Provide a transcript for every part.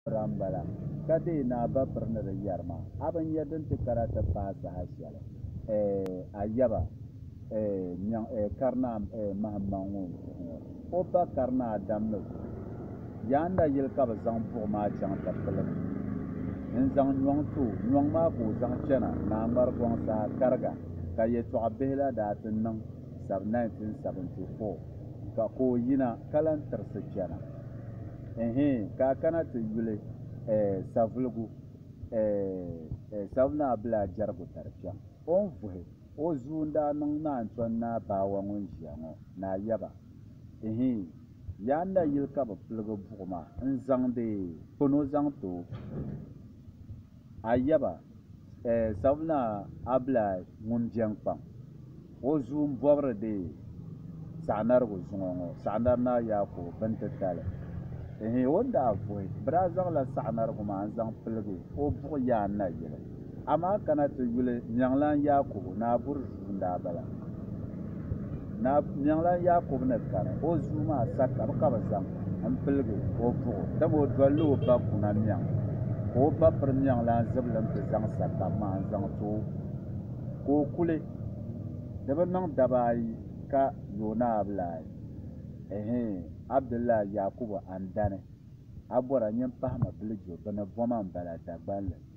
Pira m-bala, ka deei ni a ba piri ni di yɛri ma, a bi nya din ti kara ti paai saha shɛli? Ɛɛh! A yaba, ɛɛh, nyaŋ, ɛɛh, karinaa, ɛɛh, mahimmaŋ ŋun vuhi ŋɔ, o ba karinaa Adam ni vuhi. Yaa nayili ka bɛ zaŋ buɣ maa chaŋ ti pili ma. N zaŋ nyɔŋ ti o, nyɔŋ maa ka o zaŋ chana, ni a ŋmari gɔŋ saha kariga, ka yɛtɔɣ bihi la daa ti niŋ. Sab 1974 ka ka o yina ka lan tirisi chana. Ɛhɛɛ ka a kana ti yuli ɛɛ Savuligu ɛɛ Savu Naa Bilaa Jɛrigu tari kpɛm. O ni vuhi o zuu n-daa niŋ Naa Ntɔn Naa Baawa ŋun ʒiya ŋɔ Naa Yaba. Ɛhɛɛ Yaan Nayili ka bɛ piligi buɣima n-zaŋdi Kono zaŋ ti o. A yaba, eh, Savinaa Abilaay ŋun beni kpaŋ, o zuu m-bɔbiri deei Saɣinarigu zuŋɔ ŋɔ, Saɣinari Naa Yaakubu Bintitali. Ehe, o ni daa vuhi, bɛ daa zaŋla Saɣinarigu maa n-zaŋ piligi o buɣ yaan na yili. Amaa kana ti yuli Nyɛŋlan Yaakubu, Naa Burzuu. n daa bala. Naa Niɣilan Yaakubu ni kani o zuu maa sakab ka bɛ zaŋ n piligi o buɣu, dama o dolila o ba kuna miɛŋ, ka o ba piri niɣilan zibili n ti zaŋ sakab maa n zaŋ ti o, ka o kuli di bi niŋ daba ayi ka yoona abilaayi. Ɛhee, Abdullahi Yaakubu a ni dani, a bɔra nyin pahima bilijo bini boma m bala Dagbanli.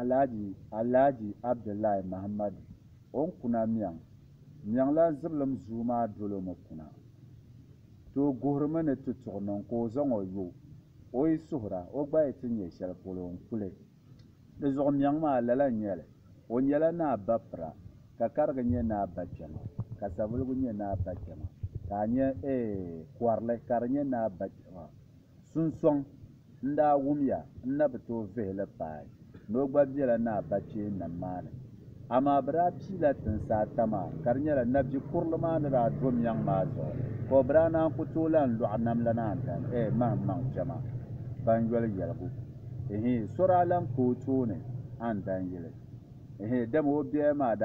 Alhaji Alhaji Abdullahi Mahammadu on kuna miɛŋ miɛŋ la zibilim zuu maa dolo mi kuna tooi guhiri mi ni ti tuɣi niŋ ka o zaŋ o yo o yi suhira o gba yi ti nyɛ shɛli polo n kuli di zuɣu miɛŋ maa lala n nyɛli o nyɛla naa bapira ka karigi nyɛ naa bakpɛma ka savuligu nyɛ naa bakpɛma ka a nyɛ eeh kɔrili ka di nyɛ naa bakpɛma. Sunsɔŋ n daa wumya n na bi tooi vihi li paai ni o gba bela Naa Bachee nam maa ni. Amaa bɛ daa piila tinsi ata maa ka di nyɛla Nabji kurili maa ni daa do miɛŋ maa zuɣu ka o bi daa naan ku tooi lahi lɔɣi nam la naan gani eeh mahim maŋ kpɛma ban yoli yɛligu eeh so daa lahi ka o tooni a ni dan yili eeh dama o biɛya maa daa